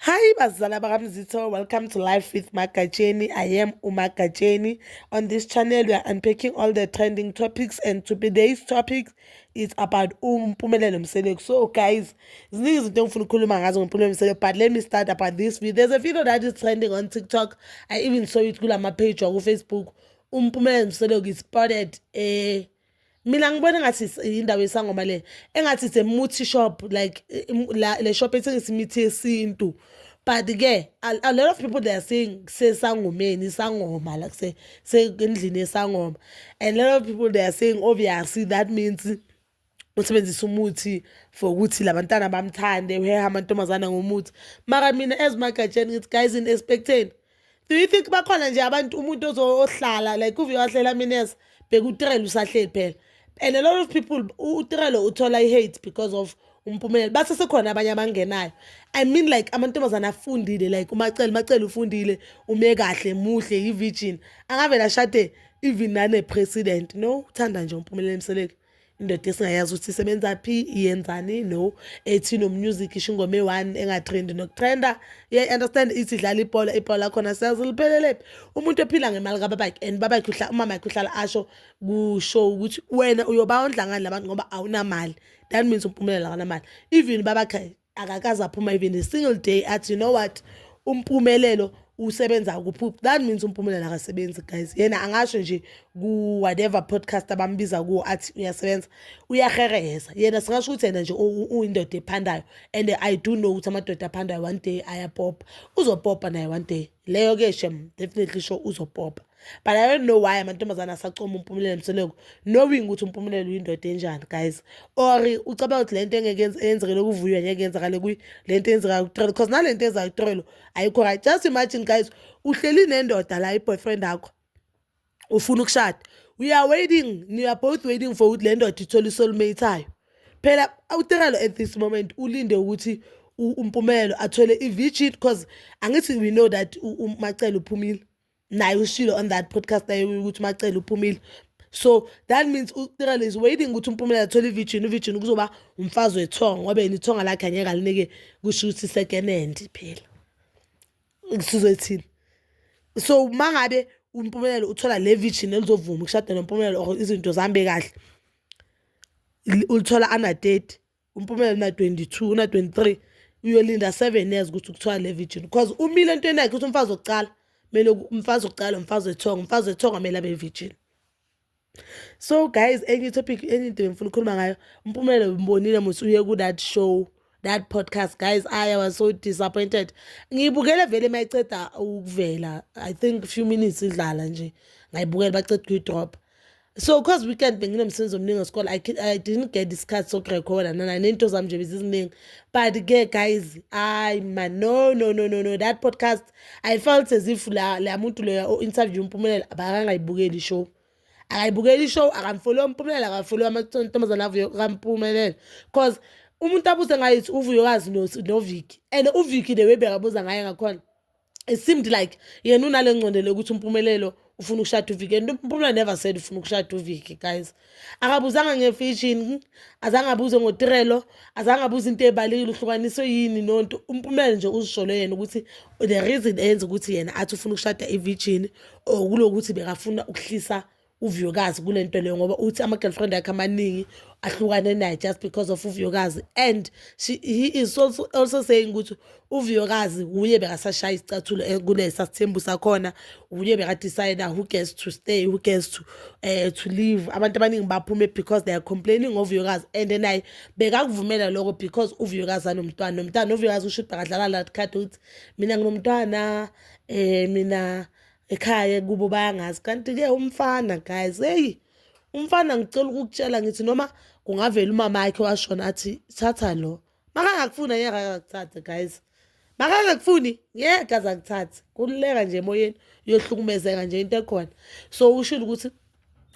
Hi bazala bakamzitho, welcome to Life with Magatsheni. I am uMagatsheni. On this channel we are unpacking all the trending topics and today's topic is about uMpumelelo Mseleku. So guys, ziningi izinto engifuna ukukhuluma ngazo ngoMpumelelo Mseleku but let me start about this video. There's a video that is trending on TikTok. I even saw it kula ma page waku Facebook. uMpumelelo Mseleku is spotted eh mina ngibona ngathi indawo yesangoma le engathi it's a multi shop like la le shop ethengisa imithi yesintu but ke a, a lot of people they are saying sesangomeni isangoma like se sendlini yesangoma and a lot of people they are saying obviously that means usebenzisa umuthi for ukuthi labantana bamthande uheha amantombazana ngomuthi mara mina as magatsheni ngithi guys in expecteni do you think bakhona nje abantu umuntu ozohlala like uve wahlela mines bheka utirelo usahleli phela and a lot of people utirelo uthola i-hate because of umpumelelo base sekhona abanye abangenayo i mean like amantombazane afundile like umacele umacele ufundile ume kahle muhle yi-virgin angavele ashade even nane-president no uthanda nje umpumelelo emseleki indoda esingayazi ukuthi isebenza phi iyenzani no ethi nomusic isho ingoma eyi-one engathrendi nokutrenda yeah understand ithi dlala ibhola ibhola lakhona siyazi liphelelephi umuntu ephila ngemali kababakhe and babakhe umama yakhe uhlala asho kusho ukuthi wena uyobawondla ngani labantu ngoba awunamali that means umpumelelo akanamali even babakhe akakaze aphuma even a single day athi you know what umpumelelo usebenza ukuphupha that means umpumelelo akasebenzi guys yena angasho nje ku whatever podcast abambiza kuwo athi uyasebenza uyahereheza yena singasho ukuthi yena nje uyindoda ephandayo and i do know ukuthi amadoda aphandayo one day ayapopa uzopopa naye one day leyo ke shem definitely sho uzopopa but i don't know why amantombazane asacoma umpumelelo msoleko knowing ukuthi umpumelelo uyindoda enjani guys or ucabanga ukuthi le nto engeyenzekele ukuvuywa ngeke yenzakale kuyi le nto eyenzekayo kutrelo because nale nto ezayo kutrelo ayikho right just imagine guys uhleli nendoda la i-boyfriend akho ufuna ukushada we are waiting we are both waiting for ukuthi le ndoda ithole isolmate ayo phela utrelo at this moment ulinde ukuthi umpumelelo athole i-virgin because angithi we know that umacele uphumile naye ushilo on that podcast naye ukuthi umacele uphumile so that means utirela is waiting ukuthi umpumelelo athole ivijini uvijini kuzoba umfazi wethongo ngoba yena ithonga lakhe angeke alinike kusho ukuthi sekenendi phela sizoyithini so uma ngabe umpumelelo uthola le vijini elizovuma ukushada nompumelelo or izinto zihambe kahle ulithola ana-thirty uMpumelelo na 22 na 23 uyolinda 7 years ukuthi kuthiwa le virgin because umile into enakhe ukuthi umfazi wokuqala kumele umfazi wokuqala umfazi wethonga umfazi wethonga kumele abe virgin so guys enye topic enye into bengifuna ukukhuluma ngayo uMpumelelo umbonile muthi uye ku that show that podcast guys i was so disappointed ngiyibukele vele mayiceda ukuvela i think few minutes idlala nje ngayibukela baceda kuyidrop so cause weekend benginomsebenzi omningi wesikole I, i didn't get isikhathi sokurekhoda nana nento zami nje beziziningi but ke guys ayi ma no no no no no that podcast i felt as if la la muntu loya o-interview umpumelelo abakangayibukeli show akayibukeli ishow akamfoli ompumelelo akafoli amantombazane avuyo kampumelelo cause umuntu abuze ngayithi uvuyokazi noviki and uviki the way bekabuza ngaye ngakhona it seemed like yena unale ngcondelo yokuthi umpumelelo ufuna ukushada uviki and umpumela never said ufuna ukushada uviki guys akabuzanga ngefishini azange abuze ngotirelo azange abuze into ebalekile uhlukaniswe yini nonto umpumela nje uzisholo yena ukuthi the reason enza ukuthi yena athi ufuna ukushada ivirgin or kulokuthi bekafuna ukuhlisa uvuyokazi kule nto leyo ngoba uthi ama-girlfriend akhe amaningi ahlukane naye just because of uvuyokazi and she, he is also, also saying ukuthi uvuyokazi wuye bekasashaya isicathulo eh, kulesa sithembu sakhona wuye bekadecide who gets to stay who gets to, uh, to leave abantu abaningi baphume because they are complaining ngovuyokazi and naye bekakuvumela loko because uvuyokazi anomntwana nomntwana uvuyokazi usho ukuthi bekadlala lathi khadi ukuthi mina nginomntwana um mina ekhaya kubo bayangazi kanti ke umfana guys hey umfana ngicela ukukutshela ngithi noma kungavela umama yakhe washona athi thatha lo makangakufuni ngeke akakuthathe guys makangakufuni ngeke azakuthathe kululeka nje emoyeni uyohlukumezeka nje into ekhona so ushilo ukuthi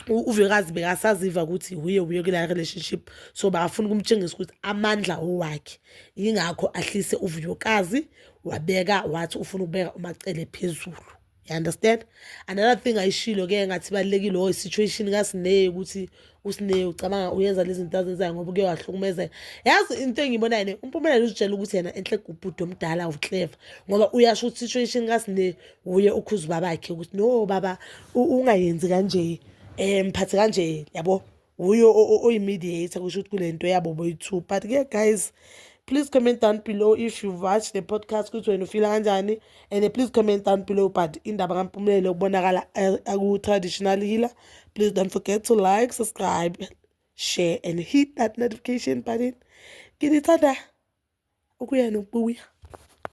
uvekazi bekasaziva ukuthi wuye wuye kula relationship so bafuna ukumtshengisa ukuthi amandla owakhe yingakho ahlise uvuyokazi wabeka wathi ufuna ukubeka umacele phezulu you understand another thing ayishilo ke ngathi balekile o oh, situation kasineye ukuthi usineye ucabanga uyenza lezi zinto azenzayo ngoba kuye wahlukumezeka yazi into engiyibonayo ne umpumelelo uzitshela ukuthi yena enhle kubhuti omdala uclever ngoba uyasho ukuthi situation kasineye wuye ukhuza ubabakhe ukuthi no baba ungayenzi kanje um mphathe kanje yabo wuye oyi-mediator kusho ukuthi kule nto yabo boyi-two but ke guys please comment down below if you watch the podcast ukuthi wena ufila kanjani and please comment down below but indaba kampumelelo ukubonakala eh, aku-traditional healer please don't forget to like subscribe share and hit that notification button nginithanda ukuya nokubuya